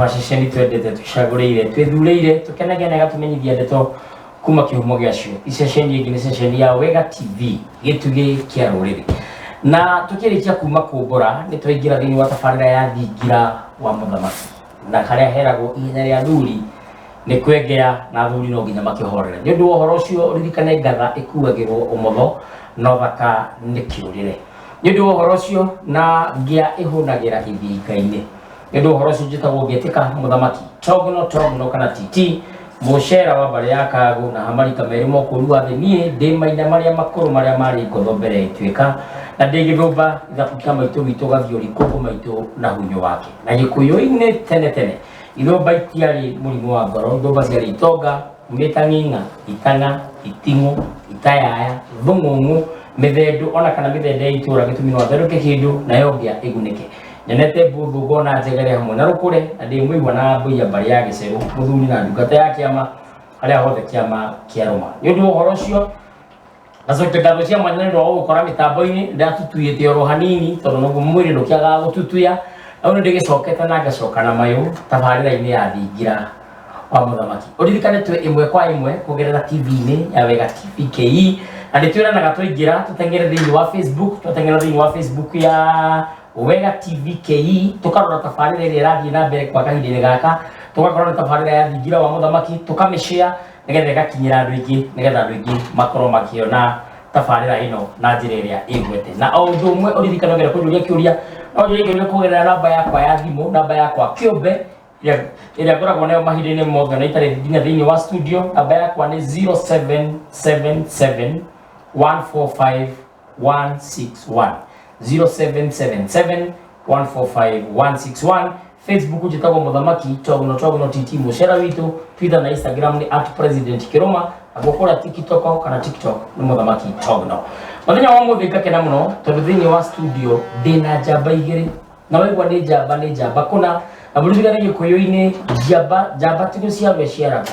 macicio nĩ twendete twĩcagũrĩire twĩthurĩire tũkenagia na ĩgatũmenyithia ndeto kuma kĩhumo gĩacio iceceni ĩngĩ nĩ ceceni ya wega tv gĩtugĩ kĩa rũrĩrĩ na tũkĩrĩkia kuma kũmbũra nĩ twaingĩra thĩinĩ wa tabarĩra ya thingira wa mũthamaki na karĩa heragwo ihenya rĩa athuri nĩ kwengea na athuri no nginya makĩhorere nĩ ũndũ wa ũhoro ũcio ririkane ngatha ĩkuagĩrwo ũmotho na ũthaka nĩ kĩũrĩre nĩ ũndũ wa ũhoro ũcio na ngĩa ĩhũnagĩra gĩthinga-inĩ nĩ ũndũ wa ũhoro ũcio njĩtagwo ngĩtĩka mũthamaki togno togno kana titi mũcera wa mbarĩ ya kagũ na hamarika merĩ mokũru wa thĩ niĩ ndĩ maina marĩa makũrũ marĩa marĩ ngotho mbere ya ituĩka na ndĩ gĩthũmba ithabu kĩa maitũ witũ gathiũri kũngũ maitũ na hunyo wake Na Gĩkũyũ-inĩ tene tene, ithũmba itiarĩ mũrimũ wa ngoro, ithũmba ciarĩ itonga, kumĩta ng'ing'a, itana, itimũ, itayaya, thung'ung'u, mĩthendũ ona kana mĩthende ya itũra gĩtumi no atherũke kĩndũ nayo ngĩa ĩgunĩke. Nyonete mbũthũ ngona njegere hamwe na rũkũre na ndĩ mũigua na ngũiya mbarĩ ya gĩcerũ, mũthuri na ndungata ya kĩama harĩa hothe kĩama kĩarũma. Nĩ ũndũ wa ũhoro ũcio, Gacokia ngagwĩtia mwanya nĩ ũndũ wa gũgũkora mĩtambo-inĩ ndatutuyĩte oro hanini tondũ naguo mwĩrĩ ndũkĩagaga gũtutuya no nĩ ndĩgĩcokete na ngacoka na mayũ tabarĩra-inĩ ya thingira wa mũthamaki ũririkane twĩ ĩmwe kwa ĩmwe kũgerera tv-inĩ ya wega tv ke na nĩ twĩranaga twaingĩra tũteng'ere thĩinĩ wa facebook twateng'era thĩinĩ wa facebook ya wega tv ke tũkarora tabarĩra ĩrĩa ĩrathiĩ na mbere kwa kahinda-inĩ gaka tũgakorwo na tabarĩra ya thingira wa mũthamaki tũkamĩshare nĩgetha ĩgakinyĩra andũ aingĩ nĩgetha andũ aingĩ makorwo makĩona tabarĩra ĩno na njĩra ĩrĩa ĩgwete na o ũndũ ũmwe ũririkana ngera kũnjũria kĩũria no njũrie kĩũria kũgerera namba yakwa ya thimũ namba yakwa kĩũmbe ĩrĩa- ĩrĩa ngoragwo nayo mahinda-inĩ mothe na itarĩ nginya thĩinĩ wa studio namba yakwa nĩ 0777 145 161 0777 145 161 facebook njĩtagwo mũthamaki togno togno tt mũcera witũ twitter na instagram nĩ at president kĩrũma naguo kũrĩa tiktok kana tiktok nĩ mũthamaki togno mũthenya wa mũthĩ ngakena mũno tondũ thĩinĩ wa studio ndĩna njamba igĩrĩ na waigua nĩ njamba nĩ njamba kũna na mũririkane gĩkũyũ-inĩ njamba njamba ti gũciarwo ĩciaragwo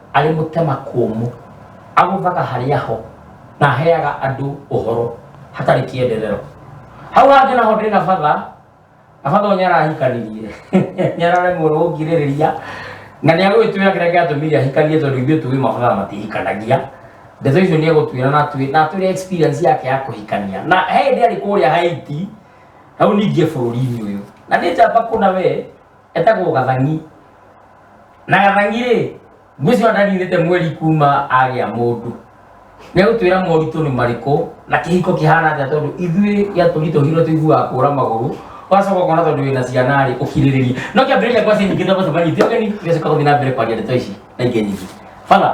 arĩ mũtema kũmũ agũthaga harĩa ho na aheaga andũ ũhoro hatarĩ kĩenderero hau hangĩ naho ndĩ na batha na batha ũrĩa arahikanirie nĩ araremwo gũkirĩrĩria na nĩ agwĩtwĩra kĩrĩa gĩatũmire ahikanie tondũ ithuĩ tũĩ mabatha matihikanagia ndeto icio nĩ egũtwĩra na atwĩ- na atwĩre experience yake ya kũhikania na he hĩndĩ arĩ kũrĩa haiti hau ningĩ bũrũri-inĩ ũyũ na nĩ njamba kũna wee Etagwo Gathang'i. Na Gathang'i-rĩ, ngwĩciria ndaninĩte mweri kuma agĩa mũndũ. Nĩegũtwĩra moritũ nĩ marĩkũ na kĩhiko kĩhana atĩa tondũ ithuĩ gĩatũritũhire tũiguaga kũra magũrũ ũgacoka ũkona tondũ wĩna ciana-rĩ ũkirĩrĩria. No kĩambĩrĩria kwa ciĩ nyingĩ tondũ baba nyingĩ ũgeni tũgacoka gũthiĩ na mbere kwaria ndeto ici na ingĩ nyingĩ. Father,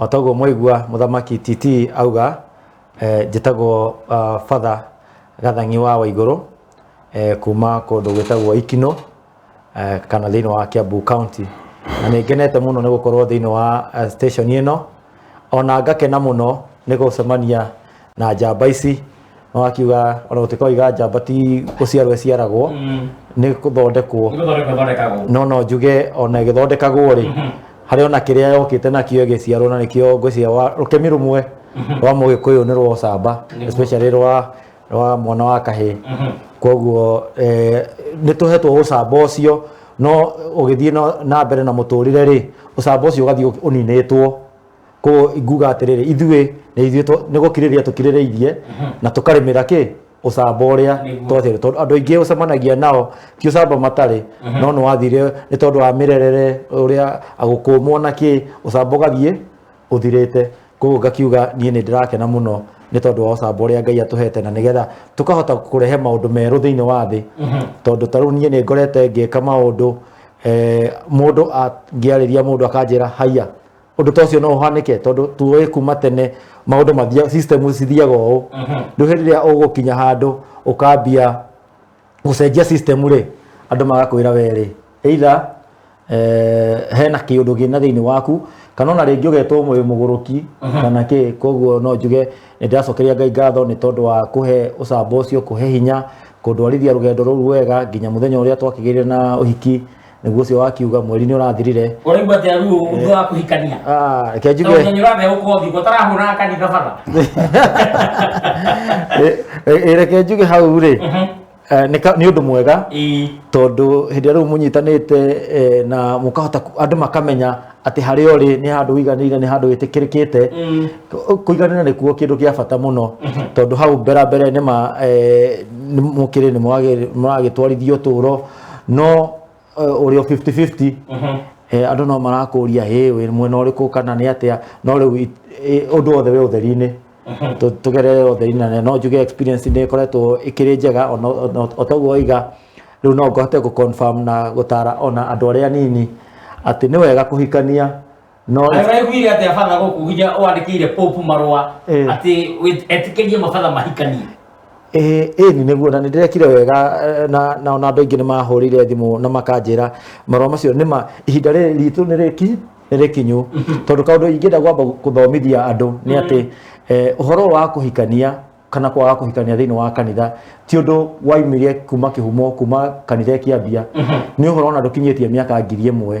O toguo mwaigua mũthamaki Titi auga eh, njĩtagwo ah, Father Gathang'i wa Waigũrũ eh, kuma kũndũ gwĩtagwo Ikino eh, kana thĩinĩ wa Kiambu County na nĩ ngenete mũno nĩ gũkorwo thĩinĩ wa eh, station ĩno ona ngakena mũno nĩ gũcemania na njamba ici no akiuga ona gũtuĩka oiga njamba ti gũciarwo ĩciaragwo nĩ gũthondekwo Nĩgũthondeka thondekagwo. no no njuge ona ĩgĩthondekagwo rĩ harĩ ona kĩrĩa yokĩte nakĩo ĩgĩciarwo na nĩkĩo ngwĩciria wa- rũkemi rũmwe rwa mũgĩkũyũ nĩ rwa ũcamba Nĩguo. especially rwa rwa mwana wa kahĩĩ koguo eh, nĩ tũhetwo ũcamba ũcio no ũgĩthiĩ na- na mbere na mũtũrĩre rĩ ũcamba ũcio ũgathiĩ ũ- ũninĩtwo ko nguga atiriri ithuĩ nĩ ithuĩ twa- nĩ gũkirĩrĩria tũkirĩrĩirie na tũkarĩmĩra kĩ ũcamba ũrĩa Nĩguo. twatĩrĩ tondũ andũ aingĩ ũcemanagia nao ti ũcamba matarĩ no nĩ wathire nĩ tondũ wa mĩrerere ũrĩa agũkũmwo na kĩ ũcamba ũgathiĩ ũthirĩte koguo ngakiuga niĩ nĩ ndĩrakena mũno nĩ tondũ wa ũcamba ũrĩa ngai atũhete na nĩgetha tũkahota kũrehe maũndũ merũ thĩinĩ wa thĩ tondũ ta rĩu niĩ nĩ ngorete ngĩka maũndũ eh, mũndũ angĩarĩria mũndũ akanjĩra haiya Ũndũ ta ũcio no ũhanĩke tondũ tuoĩ kuma tene maũndũ mathia system cithiaga ũũ. Rĩu hĩndĩ ĩrĩa ũgũkinya handũ ũkambia gũcenjia system rĩ, andũ magakwĩra we rĩ, either eh, hena kĩũndũ gĩna thĩinĩ waku kana ona rĩngĩ ũgetwo wĩ mũgũrũki kana kĩ koguo no njuge nĩ ndĩracokeria Ngai ngatho nĩ tondũ wa kũhe ũcamba ũcio kũhe hinya kũndwarithia rũgendo rũu wega nginya mũthenya ũrĩa twakĩgĩire na ũhiki nĩguo ũcio wakiuga mweri nĩ ũrathirire ũraigua atĩa ruo ũndũ wa kũhikania Ah, reke njuge tondũ nĩ ũrathe gũkorwo thigũ ũtarahũraga kanitha bara Ĩ- ĩ- ĩ, reke njuge hau rĩ eh, nĩ ka- nĩ ũndũ mwega Ĩĩ. tondũ hĩndĩ ĩrĩa rĩu mũnyitanĩte eh, na mũkahota ku- andũ makamenya atĩ harĩa ũrĩ nĩ handũ wiganĩire nĩ handũ wĩtĩkĩrĩkĩte Mm. Kũ- kũiganĩra nĩkuo kĩndũ gĩa bata mũno tondũ hau mbera mbere nĩ ma eh, nĩ mũkĩrĩ nĩ mũragĩ- mũragĩtwarithia ũtũũro no eh, ũrĩ o 50-50 eh, andũ no marakũria hĩ wĩ mwena ũrĩkũ kana nĩ atĩa no rĩu it- eh, ũndũ wothe wĩ ũtheri-inĩ Tũ- tũgerere ũtheri-inĩ na no njuge experience nĩ ĩkoretwo ĩkĩrĩ njega ona- ona- o toguo oiga rĩu no ngohote gũ confirm na gũtara ona andũ arĩa anini atĩ nĩ wega kũhikania No Nĩ waiguire atĩ abana gũkũgia wandĩkĩire popu marũa Eh. atĩ wĩ- etĩkĩrie mabatha mahikanie ĩĩ ĩĩ nĩ nĩguo na nĩ ndĩrekire wega eh, na na ona andũ aingĩ nĩ mahũrĩire thimũ na makanjĩra marũa macio nĩ ma ihinda rĩrĩ ritũ nĩ rĩki nĩ rĩkinyu tondũ kaũndũ ingĩenda kwamba gũthomithia andũ nĩ atĩ eh, ũhoro wa kũhikania kana kwaga kũhikania thĩinĩ wa kanitha ti ũndũ waimire kuma kĩhumo kuma kanitha ĩkĩambia nĩ ũhoro ona ndũkinyĩtie mĩaka ngiri ĩmwe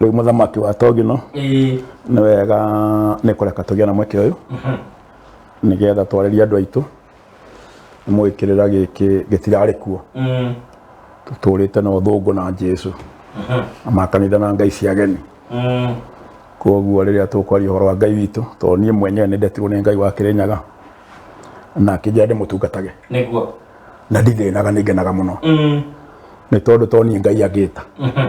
rĩu mũthamaki wa togino ĩĩ nĩ wega nĩ kũreka tũgĩe na mweke ũyũ nĩgetha twarĩrie andũ aitũ mũgĩkĩrĩra gĩkĩ gĩtirarĩ kuo Mm. tũtũrĩte na ũthũngũ na jesu na makanitha na ngai cia geni Mm. koguo rĩrĩa tũkwaria ũhoro wa ngai witũ tondũ niĩ mwenyewe nĩ ndetirwo nĩ ngai wa kĩrĩnyaga na akĩnjĩra ndĩmũtungatage nĩguo na ndithĩnaga nĩ ngenaga mũno Mm. nĩ tondũ to niĩ ngai angĩta Mhm.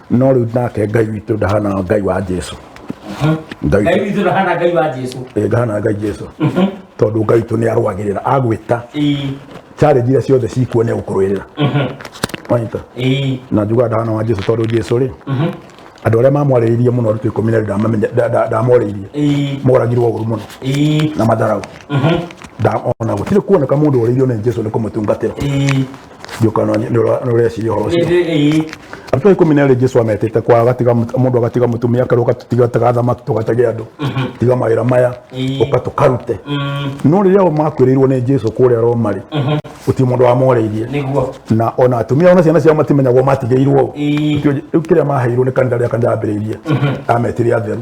no rĩu nake ngai witũ ndahana ngai wa jesu ngai ngai witũ ndahana ngai wa jesu eh, ndahana ngai jesu tondũ ngai witũ nĩ arũagĩrĩra agwĩta Ii, challenge iria ciothe cikuo nĩ agũkũrũĩrĩra wanyita ii, na njuga ndahana wa jesu tondũ jesu rĩ andũ arĩa mamwarĩrĩirie mũno arutwo ikũmi na erĩ ndamamenye- nda- nda- ndamorĩirie ii, moragirwo ũru mũno ii, na matharaũ ndamona gũtirĩ kuoneka mũndũ ũrĩirio nĩ jesu nĩ kũmũtungatĩra ii. njũkano nĩ ũra- nĩ ũreciria ũhoro ũcio ĩĩ Andũ a ikũmi na erĩ Jesu ametĩte kwa agatiga mũt- mũndũ agatiga mũtumia akerwo ũgatiga tiga thamaki tũgatage andũ tiga mawĩra maya Ĩĩ. ũka tũkarute no rĩrĩa o makwĩrĩirwo nĩ Jesu kũrĩa Roma rĩ gũtirĩ mũndũ wamoreirie nĩguo na ona atumia ona ciana ciao matimenyagwo matigĩirwo Ĩĩ. Ũcio- rĩu kĩrĩa maheirwo nĩ kanitha rĩrĩa kanitha yambĩrĩirie ametire atheru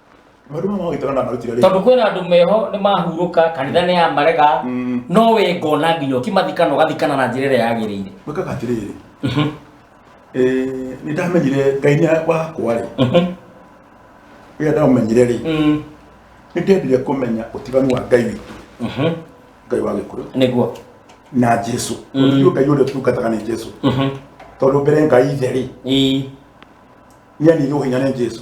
Maũndũ maya magwĩtwo na ndamarutire rĩ? tondå kwä na andå meho nä mahurũka kanitha nä yamarega Mm. no wä ngona nginya å kimathikana å gathikana na njä ra ä rä a yagä rä ire Gwĩkaga atĩrĩrĩ. Eh, nĩ ndamenyire Ngai nĩ wakwa rĩ. Rĩrĩa ndaũmenyire rĩ, nĩ ndendire kũmenya ũtiganu wa Ngai witũ, Ngai wa Gĩkũyũ nä guo na Jesu. Mm. Ũthiũ Ngai ũrĩa tungataga nĩ Jesu. Tondũ mbere Ngai ithe rĩ, nĩ anire ũhinya nĩ Jesu.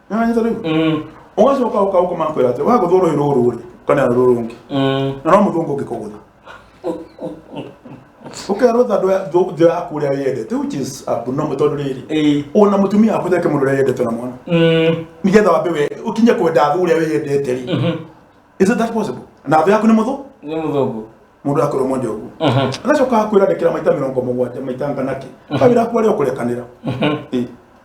nĩwanyita rĩu Mm. ũgacoka ũka ũka ũkamakwĩra atĩ waga gũthũrwo rũĩ rũrũ rĩ kana rũrũ rũngĩ Mm. na no mũthũngũ ũngĩkũgũtha ũkerwo thandũ ya thũ- thũ yaku ũrĩa yendete which is abnormal tondũ rĩrĩ Eh. ona mũtumia waku theke mũndũ ũrĩa yendete na mwana Mm. nĩgetha wambe we ũkinye kwenda thũ ũrĩa wĩyendete rĩ Mhm. is it that possible na thũ yaku nĩ mũthũ Nĩ mũthũngũ. mũndũ akorwo mwende ũguo Mhm. agacoka akwĩra ndekera maita mĩrongo mũgwanja maita nganakĩ kawĩra aku arĩa ũkũrekanĩra Eh.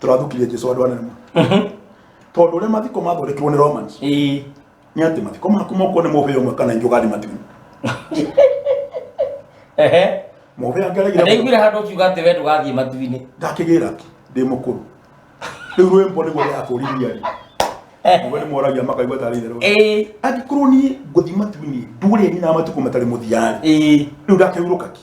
tũrathukire jesu andũ anene tondũ ũrĩa mathiko mathondekirwo nĩ romans Ĩĩ. nĩ atĩ mathiko maku moko nĩ mũbĩa ũmwe kana ingĩ ũgari matimu Ehe. mũbĩa ngeregire ndaiguire handå kiuga atä we ndå gathiä matuinä ndakĩgĩra ki ndĩ mũkũrũ rĩu rwĩmbo nĩguo ndakũriria rĩ mũbĩa nĩ moragia makaigua tarĩ itherũ angĩkorwo niĩ ngũthi matuinĩ ndũrĩni na matukũ matarĩ mũthiarĩ rĩu ndakĩhurũka ki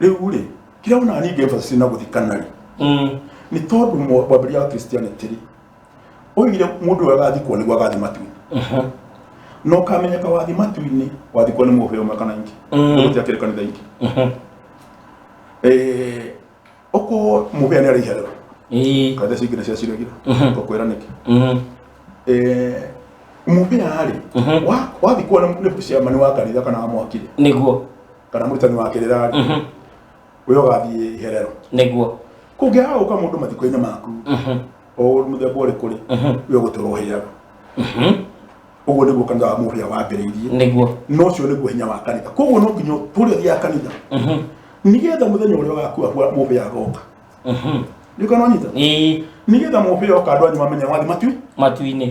rĩu rĩ kĩrĩa wonaga ningĩ emphasis na gũthikana rĩ Mm. nĩ tondũ mwa- mwambĩria wa christianity rĩ oigire mũndũ ũyũ agathikwo nĩguo agathi matu Mhm. na ũkamenyeka wathi matu-inĩ wathikwo nĩ mũheo ũmwe kana ingĩ Mm. gũtia kĩrĩ kanitha ingĩ Mhm. Eh, okorwo mũhea nĩ arĩ iherero Ii. kanitha icio ingĩ nĩ ciaciragira Mhm. ngakwĩra nĩkĩ Mhm. Eh, mũhea rĩ Mhm. wa- wathikwo nĩ nĩ ciamani wa kanitha kana wa mwakire nĩguo kana mũrutani wa kĩrĩra Mhm. ũrĩa ũgathiĩ iherero nĩguo kũngĩaga gũka mũndũ mathiko-inĩ maku Mhm. o mũthemba ũrĩkũ rĩ Mhm. we ũgũtũra ũhĩaga Mhm. ũguo nĩguo kanitha wa mũhĩa wambĩrĩirie nĩguo na ũcio nĩguo hinya wa kanitha koguo no nginya tũrĩa thiaga kanitha Mhm. nĩgetha mũthenya ũrĩa ũgakua kwa mũhĩa agoka Mhm. nĩũkanonyita Ĩĩ, nĩgetha mũhĩa oka andũ anyu mamenye wathi matui matu-inĩ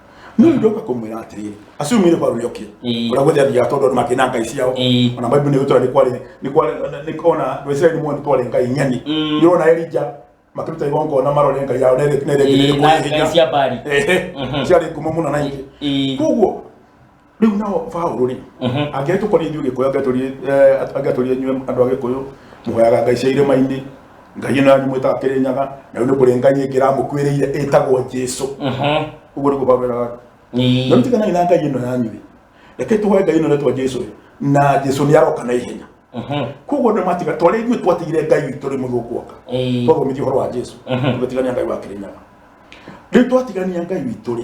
no ndoka kumwira atiri acio mwire kwa ruyo ki Ĩĩ. ura guthe ya tondu make na ngai ciao Ĩĩ. ona bible ni gutura ni kwari ni kwari ni kona ndo Israeli mo ni kwari ngai nyani Mm. ni ona Elija makiruta igongo na marore ngai yao nere nere Ĩĩ, ngai cia Baali. ciari ngumo muno na ingi Ĩĩ. koguo rĩu nao Paulo rĩ angĩtũkorwo ithuĩ gĩkũyũ angetũrie angetũrie inyuĩ andũ a gĩkũyũ mũhoyaga ngai cia irĩma-inĩ ngai ĩno yanyu mwĩtaga kĩrĩnyaga na rĩu nĩ kũrĩ ngai ĩngĩ ĩramũkuĩrĩire ĩtagwo jesu ũguo nĩguo Paulo eraga na rĩu tiganai na ngai ĩno yanyu rĩ reke tũhoe ngai ĩno ĩretwo jesu rĩ na jesu nĩ aroka na ihenya koguo nĩ matiga twarĩ ithuĩ twatigire ngai witũ rĩ mũthũku oka twathomithio ũhoro wa jesu tũgĩtigania ngai wa kĩrĩnyaga rĩu twatigania ngai witũ rĩ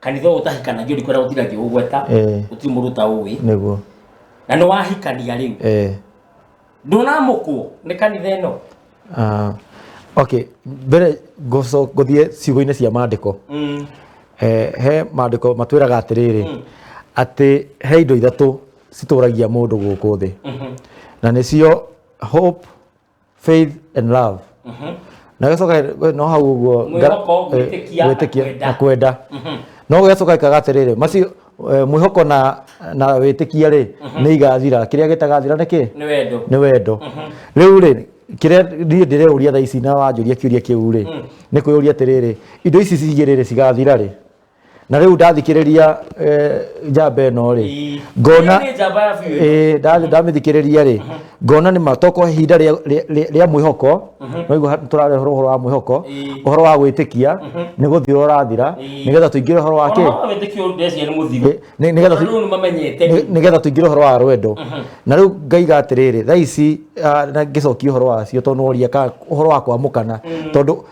kanitha ũyũ ũtahikanagio ndikũrĩa gũtiragio ũgweta Eh. gũtirĩ mũndũ ta ũĩ nĩguo na nĩ wahikania rĩu eh. ndũnamũkwo nĩ kanitha ĩno Ah, okay mbere ngoco- ngũthiĩ ciugo-inĩ cia maandĩko Mm. eh, he maandĩko matwĩraga atĩrĩrĩ atĩ he indo ithatũ citũragia mũndũ gũkũ thĩ na nĩcio hope faith and love na gĩcoka we, no hau ũguo nga- Mwĩhoko, eh, gwĩtĩkia, na gwĩtĩkia, kwenda. na kwenda no gĩcoka ikaga atĩrĩrĩ macio eh, mwĩhoko na na wĩtĩkia rĩ nĩ igathira kĩrĩa gĩtagathira nĩ kĩ nĩ wendo nĩ wendo rĩu rĩ kĩrĩa niĩ ndĩreũria thaa ici na wanjũria kĩũria kĩu rĩ nĩ kwĩyũria atĩrĩrĩ indo ici cigĩrĩ rĩ cigathira rĩ na rä u ndathikä rä ria njamba ä no rä Ii. ngona Hiyo ni njamba ya biũ. Eh, nda- ndamä thikä rä ria rä ngona nä ma tokorwo ihinda rä a mwä hoko noigua tå rarä horo wa mwä hoko Ii. å horo wa gwä tä kia nä gå thira å rathira Ii. nä getha tå ingä re å horo wa Ona kä mama wĩtĩkio ndeciria nĩ mũthiru. Eh, nĩ- nĩgetha tu- Tondũ rĩu nĩmamenyete. nĩ nĩ getha tũingĩre ũhoro wa rwendo na rĩu ngaiga atĩrĩrĩ thaa ici ah, na ngĩcokia ũhoro wacio tondũ woria ka ũhoro wa kwamũkana tondũ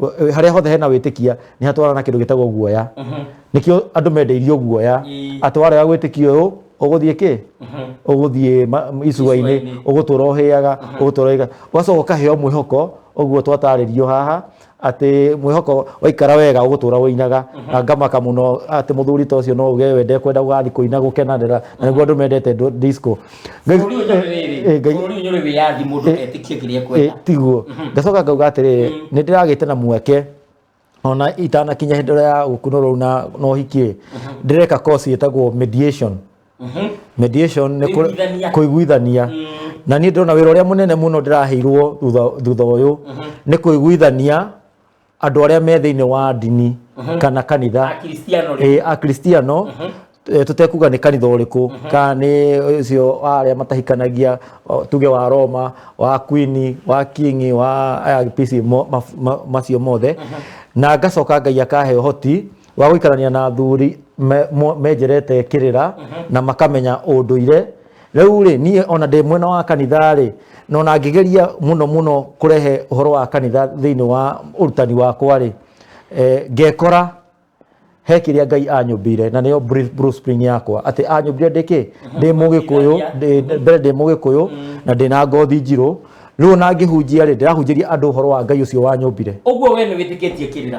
Ũ- harĩa hothe hena wĩtĩkia nĩ hatwarana na kĩndũ gĩtagwo guoya nĩkĩo andũ mendeirio guoya Ii. atĩ warega gwĩtĩkia ũyũ ũgũthiĩ kĩ ũgũthiĩ ma- m- icua-inĩ Icua-inĩ. ũgũtũra ũhĩaga ũgũtũra ũhĩaga ũgacoka ũkaheo mwĩhoko ũguo twatarĩrio haha atĩ mwĩhoko waikara wega ũgũtũra ũinaga na ngamaka mũno atĩ mũthuri ta ũcio no uge we ndekwenda gũgathiĩ kũina gũkenanĩra na nĩguo andũ mendete ndo- disco Ngai- Bũrũri ũyũ nyũrũ eh, eh, rĩrĩ. Ngai- Bũrũri ũyũ nyũrũ wĩyathi mũndũ Eh, etĩkie kĩrĩa eh, ekwenda. tiguo ngacoka ngauga atĩrĩrĩ nĩ ndĩragĩte na mweke ona itanakinya hĩndĩ ĩrĩa ya gũkunwo rũu na na ũhiki ndĩreka course ĩtagwo mediation Mhm. mediation nĩ kũ- Kũiguithania. kũiguithania na niĩ ndĩrona wĩra ũrĩa mũnene mũno ndĩraheirwo thutha thutha ũyũ nĩ kũiguithania andå arä a me thä inä wa ndini kana kanitha Akristiano rĩ. Eh, akristiano eh, tutekuga nä kanitha å rä kå kana nĩ å cio wa arä a matahikanagia o, tuge wa roma wa kwini wa kingi wa aya PC mo- ma- ma- macio mothe na ngacoka ngai akahe å hoti wa gũikarania na athuri me- mo- menjerete kĩrĩra na makamenya ũndũire rĩu rĩ niĩ ona ndĩ mwena wa kanitha rĩ no na ngĩgeria mũno mũno kũrehe ũhoro wa kanitha thĩinĩ wa ũrutani wakwa rĩ eh, ngekora he kĩrĩa ngai anyũmbire na nĩyo bru- blueprint yakwa atĩ anyũmbire ndĩkĩ ndĩ mũgĩkũyũ ndĩ- mbere ndĩ mũgĩkũyũ na ndĩ na ngothi njirũ rĩu ona ngĩhunjia rĩ ndĩrahunjĩria andũ ũhoro wa ngai ũcio wanyũmbire ũguo we nĩ wĩtĩkĩtie kĩrĩra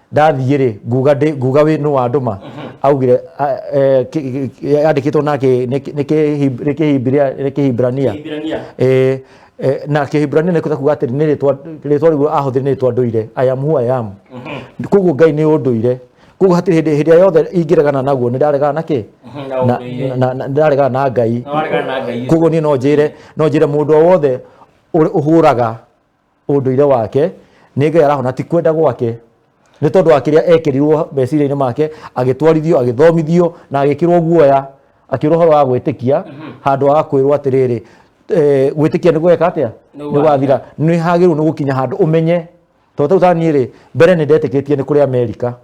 ndathiĩ rĩ nguga ndĩ nguga wĩ nũ wandũma augire a- eh, ki- ki- ki- yandĩkĩtwo na kĩ- nĩ kĩ- nĩ kĩhib- nĩ kĩhibiria- nĩ kĩhibrania Kĩhibrania. Eh, eh, na kĩhibrania nĩ kuga atĩrĩ nĩ rĩtwa rĩtwa rĩu ahũthĩre nĩ rĩtwa ndũire i am who i am koguo ngai nĩ ũndũire koguo hatirĩ hĩndĩ hĩndĩ ĩrĩa yothe ingĩregana naguo nĩ ndaregana na kĩ Mhm, na Na- ũndũire. na- na- ndaregana na ngai Na waregana na Ngai. koguo niĩ no njĩre no njĩre mũndũ o wothe ũrĩ- ũhũraga ũndũire wake nĩ ngai arahona ti kwenda gwake nĩ tondũ wa kĩrĩa ekĩrirwo meciria-inĩ make agĩtwarithio agĩthomithio na agĩkĩrwo guoya akĩrwo ũhoro wa gwĩtĩkia handũ wa kwĩrwo atĩrĩrĩ eh, gwĩtĩkia nĩ gweka atĩa Nĩ nĩ gwathira nĩ hagĩrĩirwo nĩ gũkinya handũ ũmenye tondũ tau taniĩ rĩ mbere nĩ ndetĩkĩtie nĩ kũrĩ amerika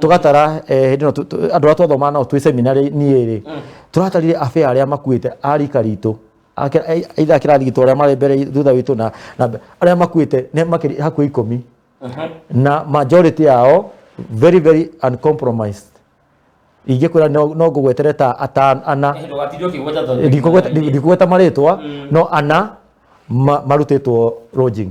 tũgatara eh, hĩndĩ ĩno tu- tu- andũ arĩa twathomaga nao twĩ seminarĩ niĩ rĩ tũratarire abe arĩa makuĩte a rika ritũ Ake- ai- aitha kĩrathi gitũ arĩa marĩ mbere thutha witũ na na mbe- arĩa makuĩte nĩ makĩria hakuhĩ ikũmi na majority yao very very uncompromised ingĩkwĩra no no ngũgwetere ta atan ana ndũgatindio kĩgweta tondũ ndikũgweta- ndikũgweta marĩtwa no ana ma- marutĩtwo lodging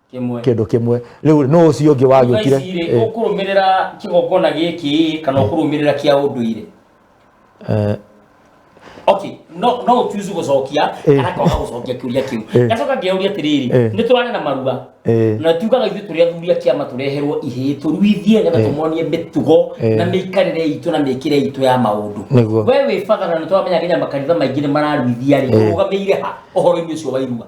kĩmwe kĩndũ kĩmwe rĩu nũ ũcio ũngĩ wagĩũkire Ici-rĩ, Eh, ũkũrũmĩrĩra kĩgongona gĩkĩ kana ũkũrũmĩrĩra kĩa ũndũire eh, okay no no ũtuizu gũcokia Eh. kana kwaga gũcokia kĩũria kĩu Eh. gacoka ngĩũria atĩrĩrĩ Eh. nĩ tũrarĩ na marua eh, na tugaga ithuĩ tũrĩ athuri a kĩama tũreherwo ihĩĩ tũruithie nĩgetha Eh. tũmonie mĩtugo Eh. na mĩikarĩre itũ na mĩkĩre itũ ya maũndũ Nĩguo. we wĩ bata na nĩ tũramenya nginya makanitha maingĩ nĩ mararuithia rĩ Eh. ũrũgamĩire ha ũhoro-inĩ ũcio wa irua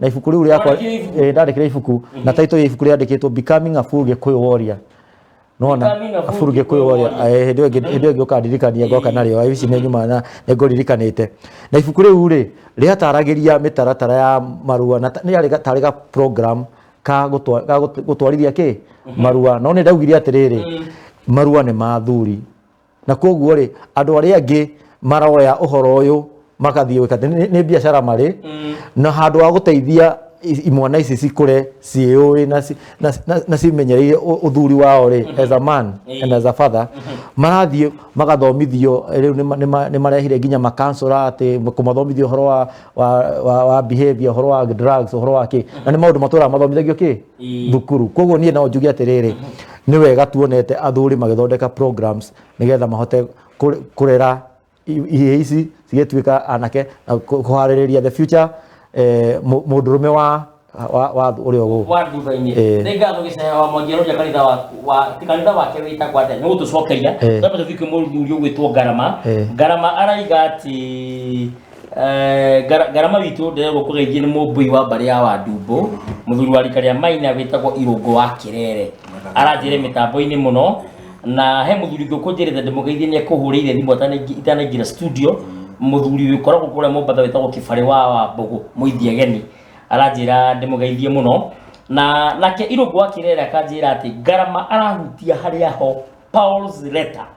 na ibuku riu riakwa Wandĩkire ibuku? eh, ndandĩkire ibuku na title ya ibuku riandĩkĩtwo becoming a full gĩkũyũ warrior nona Becoming a full full gĩkũyũ Gĩkũyũ warrior warrior. Eh, hĩndĩ ĩyo ĩngĩ- hĩndĩ ĩyo ĩngĩ ũkandirikania ngoka narĩo ici nĩ nyuma na nĩ ngũririkanĩte na ibuku rĩu rĩ rĩataragĩria mĩtaratara ya marua na ta- nĩ yarĩ ga- tarĩ ga program ka gũtwa- ga gũt- gũtwarithia kĩ marua no nĩ ndaugire atĩrĩrĩ marua nĩ ma athuri na koguo rĩ andå arä a angä maroya å horo å yå magathiä gwä ka nä biacara marä mm. na handå wa gå teithia imwana ici cikure ciĩũĩ na, na, na, na cimenyereire uthuri wao ri mhm. as a man mm. and as a father mm -hmm. marathiĩ magathomithio eh, riu ni marehire nginya makansora ati kumathomithio horo wa, wa, wa, wa behavior horo wa drugs horo wa ki na ni maundu matũraga mathomithagio ki thukuru koguo niĩ no njuge atĩrĩrĩ nĩ wega tuonete athuri magĩthondeka programs nĩgetha mahote kũ- kũrera i- ihĩĩ ici cigĩtuĩka anake na kũ- kũharĩrĩria the future eh, mũ- mũndũrũme wa wa- wa ũrĩa ũgũkũ wa thutha-inĩ Eh. nĩ ngatho gĩcaya wa mwangi aroria kanitha wa- wa ti kanitha wake wĩtagwo atĩa nĩ gũtũcokeria Eh. twambe tũthiĩ kwĩ mũthuri ũgwĩtwo ngarama Eh. ngarama araiga atĩ Eh, Ngara- ngarama witũ ndĩrerwo kũgeithie nĩ mũmbui wa mbarĩ ya wandumbũ mũthuri wa rika rĩa maina wĩtagwo irũngũ wa kĩrere aranjĩre mĩtambo-inĩ mũno na he mũthuri ngũkũ njĩrĩte ndĩmũgeithie nĩ ekũhũrĩire thimũ atanaingĩ- itanaingĩra studio mũthuri wĩ koragwo kũrĩa mũmbatha wĩtagwo kĩbarĩ wa wa mbũgũ mũithia geni aranjĩra ndĩmũgeithie mũno na nake irũngũ wa kĩrere akanjĩra atĩ ngarama arahutia harĩa ho Paul's letter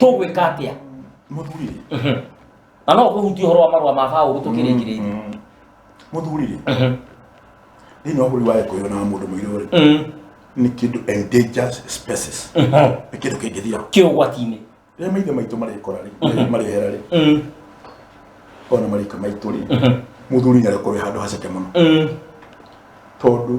tũgwĩka atĩa muthuri rĩ na no kũhutia ũhoro wa marũa ma baũrũ tũkĩrĩkĩrĩirie muthuri rĩ thĩinĩ wa bũrũri wa gĩkũyũ na mũndũ mũirũ rĩ nĩ kĩndũ endangered species nĩ kĩndũ kĩngĩthira kĩ ũgwati-inĩ rĩrĩa maithe maitũ marĩkora rĩ marĩhera rĩ ona marika maitũ rĩ muthuri nĩ arĩkorwo handũ haceke mũno tondũ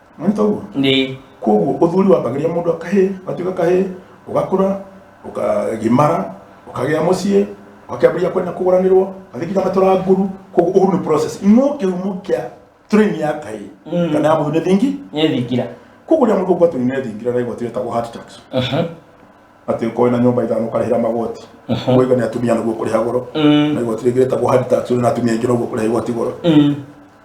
mwanyita ũguo Nĩ. koguo ũthuri wambagĩria mũndũ akahĩ gatuĩka kahĩ ũgakũra ũkagimara ũkagĩa mũciĩ ũkambĩrĩria kwenda kũgũranĩrwo gathikira matũra nguru koguo ũguo nĩ process no kĩhumo kĩa train ya kahĩ Mm. kana ya mũthuri nĩ thingi Nĩ thingira. koguo rĩa mũndũ gwatũ nĩ thingira na igoti rĩtagwo heart tax Mhm. atĩ ũkoe na nyũmba ithano ũkarĩhĩra magoti ũiga nĩ atumia nĩguo kũrĩha goro Mm. na igoti rĩngĩ rĩtagwo heart tax ũrĩ na atumia aingĩ noguo kũrĩha igoti goro Mm.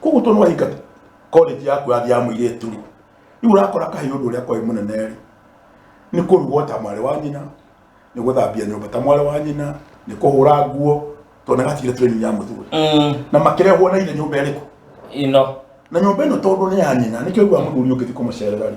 koguo to nwaingata college yaku yathi ya mũirĩtu rĩ rĩu ũrakora kahiũ ũndũ ũrĩa kwaĩ mũnene rĩ nĩ kũrugwo ta mwarĩ wa nyina nĩ gũthambia nyũmba ta mwarĩ wa nyina nĩ kũhũra nguo tondũ nĩ gatigire training ya mũthuri Mm, na makĩrehwo na ithe nyũmba ĩrĩkũ ino na nyũmba ĩno tondũ nĩ ya nyina nĩkĩo ũguo mũthuri ũngĩthi kũmũcerera rĩ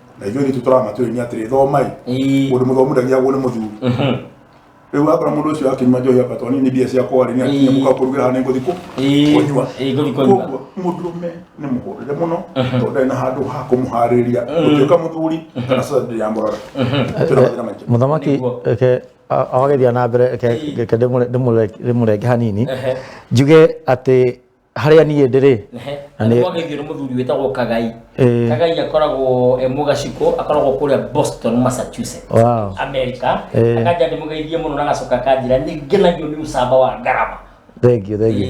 na ithuĩ ritũ tũramatwĩrĩria atĩrĩ thomai Ii. mũndũ mũthomu ndagiagwo nĩ mũthuri Mhm. rĩu akorwo mũndũ ũcio akinyima njohi akatwani nĩ mbia ciakwa rĩ nĩ akinyia mũka kũrugĩra hana ngũthi kũ Ii. kũnyua Ii, ngũthi kũnyua. Koguo mũndũrũme nĩ mũhũrĩre mũno tondũ ndarĩ na handũ ha kũmũharĩrĩria gũtuĩka mũthuri kana sasa ndĩrĩ yamborora twĩna mathĩna maingĩ mũthamaki Nĩguo. reke a- awagethia na mbere reke- reke ndĩmũre- ndĩmũre- ndĩmũrenge hanini Ehe. njuge atĩ harĩa niĩ ndĩrĩ na nĩ- nĩgwagĩthiũrũ mũthuri wĩtagwo kagai Eh. kagai akoragwo e mũgaciko akoragwo kũrĩa boston massachusetts Wow. america Eh. akaja ndĩmũgeithie mũno na agacoka akanjĩra nĩ ngenagio nĩ ũcamba wa ngarama thengio thengio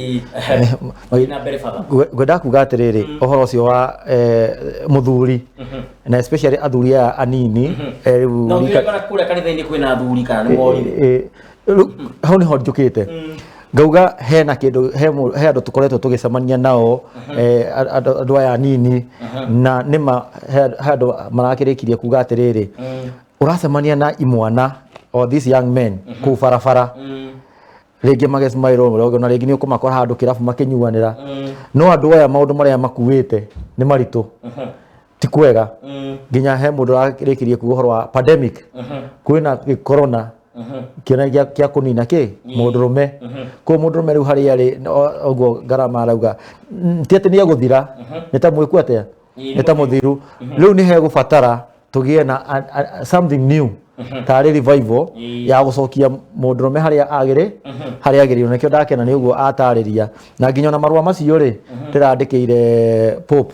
Ĩĩ, na mbere baba Ngwe- ngwendaga kuga atĩrĩrĩ ũhoro ũcio wa eh, mũthuri na especially athuri aya anini eh, rĩu na rika- ũngĩrĩkana kũrĩa kanitha-inĩ kwĩna athuri kana nĩ morire Eh, eh, Rĩu, hau nĩho njũkĩte ngauga hena kĩndũ he mũ- he andũ tũkoretwo tũgĩcemania nao eh, a- andũ andũ aya anini na nĩma he he andũ marakĩrĩkirie kuga atĩrĩrĩ ũracemania na imwana or these young men kũu barabara rĩngĩ magesmairwo mũrogo na rĩngĩ nĩ ũkũmakora handũ kĩrabu makĩnyuanĩra no andũ aya maũndũ marĩa makuĩte nĩ maritũ ti kwega nginya he mundu ararĩkirie kuga ũhoro wa pandemic kwĩna gĩ- corona kĩona gĩa kĩa kũnina kĩ mũndũrũme kũu mũndũrũme rĩu harĩa rĩ o- ũguo ngarama arauga mm, ti atĩ nĩ egũthira nĩ ta mwĩku atĩa Ĩĩ, nĩ ta mũthiru rĩu nĩ hegũbatara tũgĩe na a- a- something new tarĩ revival Ĩĩ. ya gũcokia mũndũrũme harĩa agĩrĩ harĩa agĩrĩirwo nĩkĩo ndakena nĩ ũguo atarĩria na nginya ona marũa macio rĩ ndĩrandĩkĩire pope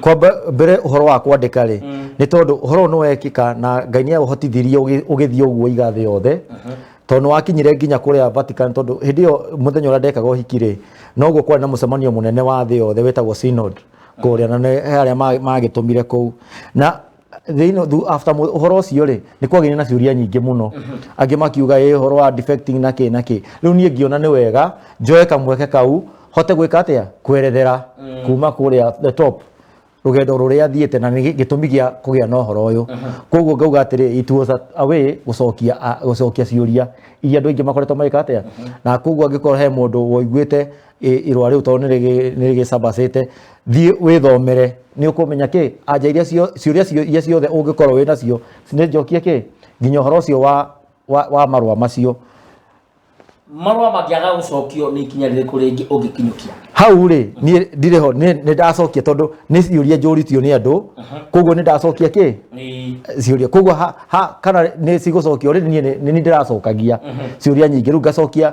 kwamba mbere uhoro wa kwandika ri ni tondu uhoro no wekika na ngai ni aguhotithirie ugithie uguo iga thi yothe tondu ni wakinyire nginya kuria Vatican tondu hindi yo muthenya uria ndekaga uhiki ri noguo kwari na mucemanio munene wa thi yothe wetagwo synod kuria na ni aria magitumire kuu na thĩinĩ thu- after mu- ũhoro ũcio rĩ nĩ kwagĩire na ciũria nyingĩ mũno angĩ makiuga ĩ ũhoro wa defecting na kĩ na kĩ rĩu niĩ ngiona nĩ wega njoe kamweke kau hote gwĩka atĩa kwerethera kuma kũrĩa the top rũgendo rũrĩa thiĩte na nĩ gĩ- gĩtũmi gĩa kũgĩa na ũhoro ũyũ koguo ngauga atĩrĩ it was a- a way gũcokia a- gũcokia ciũria iria andũ aingĩ makoretwo magĩka atĩa na koguo angĩkorwo he mũndũ woiguĩte ĩ- irũa rĩu tondũ nĩrĩgĩ- nĩrĩgĩcabacĩte thiĩ wĩthomere nĩ ũkũmenya kĩ anja iria cio- ciũria cio- iria ciothe ũngĩkorwo wĩ nacio nĩ njokie kĩ nginya ũhoro ũcio wa, wa, wa marũa macio marũa mangĩaga gũcokio nĩ ikinya rĩrĩkũ rĩngĩ ũngĩkinyũkia hau rĩ niĩ ndirĩ ho nĩ nĩ ndacokia tondũ nĩ ciũria njũritio nĩ andũ koguo nĩ ndacokia kĩ Nĩ- ciũria koguo ha, ha, kana nĩ cigũcokio rĩ niĩ nĩ- nĩ niĩ ndĩracokagia ciũria nyingĩ rĩu ngacokia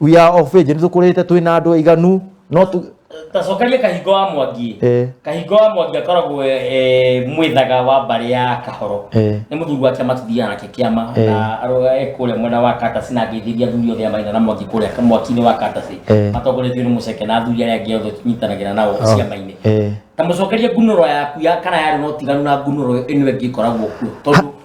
we are of age nä tå kå rä te twä na andå aiganu no tå tacokerie kahingo wa mwangi Eh. kahingo wa mwangi akoragwo eh, mwĩthaga wa mbarĩ ya kahoro Eh. nĩ mũthuri wake matithiaga nake kĩama Eh. na aroga e kũrĩa mwena wa katasi na ngĩithĩria athuri othe a maina na mwangi kũrĩa ka- mwaki-inĩ wa katasi Eh. matongoretio nĩ mũceke na athuri arĩa angĩ othe tũnyitanagĩra nao Oh. ciama-inĩ Eh. ta mũcokerie ngunũro yaku ya kana yarĩ na ũtiganu na ngunũro ĩno ĩngĩ ĩkoragwo kuo tondũ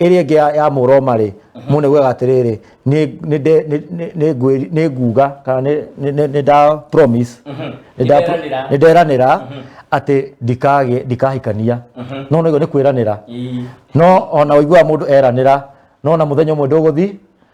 ĩrĩa ĩngĩ ya- ya mũroma-rĩ mũndũ nĩguaga atĩrĩrĩ nĩ- nĩ nde- nĩ- nĩ- nĩ ngwĩri- nĩ nguga kana nĩ- nĩ- nĩ- nĩ nda promise nĩ nda- Nĩnderanĩra. nĩ nderanĩra atĩ ndikagĩ- ndikahikania no nĩguo nĩ kwĩranĩra Ii. no ona ũiguaga mũndũ eranĩra no na mũthenya ũmwe ndũgũthi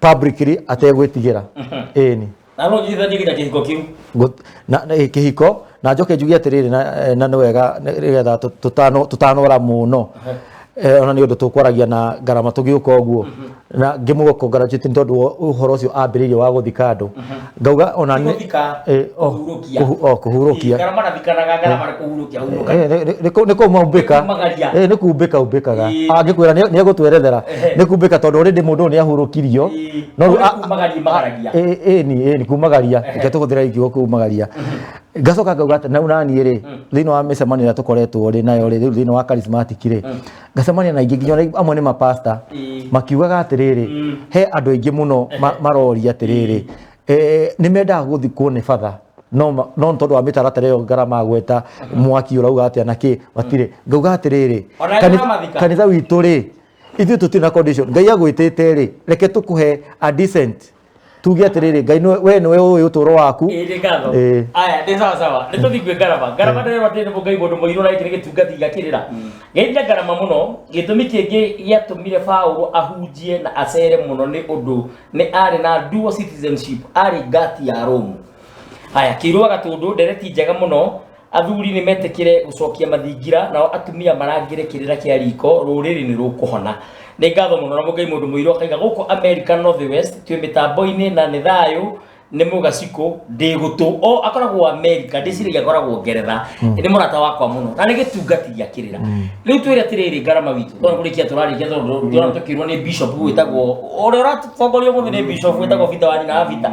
publicly ategwĩtigĩra ĩni na no njiguithanie nginya kĩhiko kĩu Ngu- na- na- eh, kĩhiko na njoke njuge atĩrĩrĩ na- eh, na nĩ wega nĩ- nĩgetha tũ- tũtano- tũtanora mũno Eh, ona nĩ ũndũ tũkwaragia na ngarama tũgĩũka ũguo na ngĩmũgũkũngaraciti nĩ tondũ wa ũhoro ũcio ambĩrĩirie wa gũthika andũ ngauga ona nĩ Gũthika, eh, o- kũhurũkia. kũhu- o, kũhurũkia Kana marathikanaga ngara marĩ kũhurũkia hurũka. Eh, nĩ- nĩ- nĩ- nĩ kũmaumbĩka Nĩ kumagaria. Eh, nĩ kumbĩka umbĩkaga Ĩĩ. angĩkwĩra nĩ nĩ egũtwerethera Ehe. nĩ kumbĩka tondũ already mũndũ ũyũ nĩ ahurũkirio Ĩĩ. No rĩu Nĩ a- kumagaria, magaragia. Ĩĩ, ĩĩ ni ĩĩ ni kumagaria Ehe. reke tũhũthĩre ikiugo kumagaria ngacoka ngauga atĩ nau naniĩ rĩ thĩinĩ wa mĩcemanio ĩrĩa tũkoretwo rĩ nayo rĩ rĩu thĩinĩ wa charismatic rĩ ngacemania na aingĩ nginya ona amwe nĩ mapasta Ĩĩ. makiugaga atĩrĩrĩ Mm. he andũ aingĩ mũno ma- maroria atĩrĩrĩ eh, nĩ mendaga gũthi kuone batha no ma- no nĩ tondũ wa mĩtaratara ĩyo ngarama gweta mwaki ũrauga atĩa na kĩ matirĩ ngauga atĩrĩrĩ Ona kani- nĩmamathika. kanitha witũ rĩ ithuĩ tũtirĩ na condition ngai agwĩtĩte rĩ reke tũkũhe a decent tuge atiriri ngai nĩ- we nĩwe ũĩ ũtũro waku Ĩĩ, nĩ ngatho. Ĩĩ. Aya, nĩ sawa sawa. Nĩ tũthiĩ kwĩ ngarama. Ngarama ndĩrerwo atĩrĩ nĩ mũngai mũndũ mũirũ na gĩkĩ nĩ gĩtungati gĩgakĩrĩra. Gĩthiĩ ngarama mũno, gĩtũmi kĩngĩ gĩatũmire Paulo ahunjie na acere mũno nĩ ũndũ nĩ arĩ na dual citizenship, arĩ ngati ya Rome. Haya, kĩirũa gatũndũ, ndereti njega mũno, athuri nĩ metĩkĩre gũcokia mathingira nao atumia marangĩre kĩrĩra kĩa riko rũrĩrĩ nĩ rũkũhona nĩ ngatho mũno na mũgai mũndũ mũirũ akaiga gũkũ america north west twĩ mĩtambo-inĩ na nĩ thayũ nĩ mũgacikũ ndĩ gũtũ o akoragwo america ndĩciragia akoragwo ngeretha nĩ mũrata wakwa mũno na nĩ gĩtungati gĩa kĩrĩra rĩu twĩre atĩrĩrĩ ngarama witũ tondũ kũrĩkia tũrarĩkia tondũ tũrona tũkĩrwo nĩ bishop wĩtagwo ũrĩa ũratongoria mũthĩ nĩ bishop wĩtagwo bita wa nyina wa bita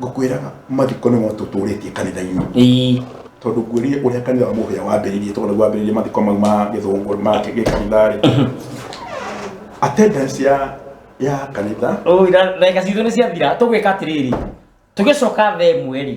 ngũkwĩraga mathiko nĩmo tũtũrĩtie kanitha-inĩ Ii. tondũ ngwĩrire ũrĩa kanitha wa mũhĩa wambĩrĩirie tondũ wambĩrĩirie mathiko mau ma gĩthũngũ ma gĩkanitha-rĩ attendance ya ya kanitha Ũira, ndagĩka citũ nĩ ciathira tũgwĩka atĩrĩrĩ tũgĩcoka thaa ĩmwe rĩ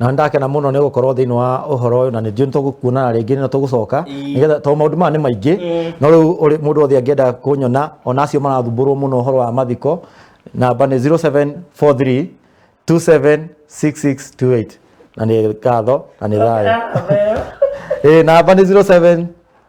na nĩ ndakena mũno nĩ gũkorwo thĩinĩ wa ũhoro ũyũ na nĩ njuĩ nĩ tũgũkuonana rĩngĩ na tũgũcoka Ĩĩ. nĩgetha tondũ maũndũ maya nĩ maingĩ Ĩĩ. no rĩu ũrĩ- mũndũ wothe angĩenda kũnyona ona acio marathumbũrwo mũno ũhoro wa mathiko namba nĩ 0743 276628 na nĩ ngatho na nĩ thayũ Ĩĩ, namba nĩ 07